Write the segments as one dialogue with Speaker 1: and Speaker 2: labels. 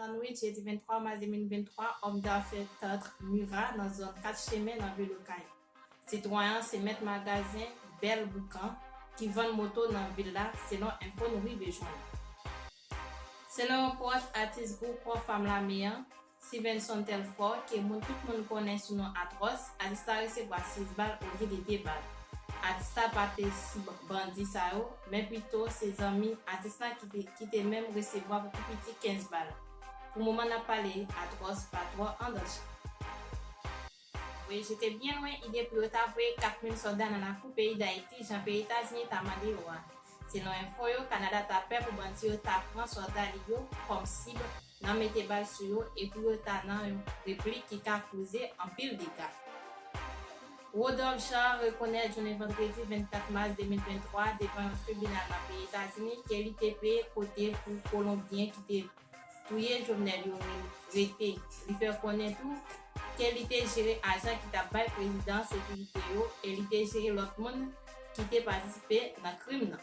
Speaker 1: Lannuit jedi 23 mas 2023, òm dafè Tantre Murat nan zòn 4 chemen nan vil Okay. Sitwayen an se mèt magazen Bèl Boukan ki vann moto nan vil la selon enfo nou rive jwenn. Selon yon pwòch atis gwoup Kò Fam Lame an, Sivenson Telfort ke moun tout moun konnen sou non Atròs, atis la resevwa 6 bal olye de 2 bal. Atis la pa te sou bandi sa yo men pito se zanmi atis la ki te menm resevwa pou pi piti 15 bal pou moman nap pale Atròs pa twò an danje. Voye jete byen lwen ide pou yo ta voye 4000 sòlda nan lakou peyi Dayiti jan peyi Etazini ta mande yo a. Selon enfo yo Kanada ta pè pou bandi yo ta pran sòlda li yo kòm sib nan mete bal sou yo epi yo ta nan yon replik ki ka koze anpil dega. Rodolphe Jean rekonèt jounen vandredi 24 mas 2023 devan yon tribinal nan peyi Etazini ke li te peye kote pou Kolonbyen ki te touye Jovenel yo rete. Li fè konnen tou ke li te jere ajan ki tap bay prezidan an sekirite yo e li te jere lòt moun ki te patisipe nan krim nan.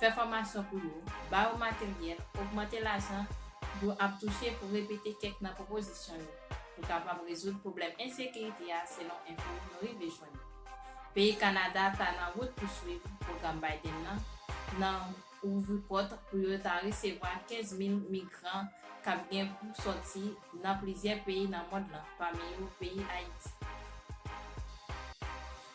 Speaker 1: fè fòmasyon pou yo, ba yo materyèl, ogmante lajan yo ap touche pou repete kèk nan pwopozisyon yo pou kapab rezoud pwoblèm ensekirite a selon enfo nou rive jwenn yo. Peyi Kanada ta nan wout pou swiv pwogram Biden nan nan ouvri pòt pou yo ta resevwa 15 mil migran k ap gen pou sòti nan plizyè peyi nan mond lan pami yo peyi Ayiti.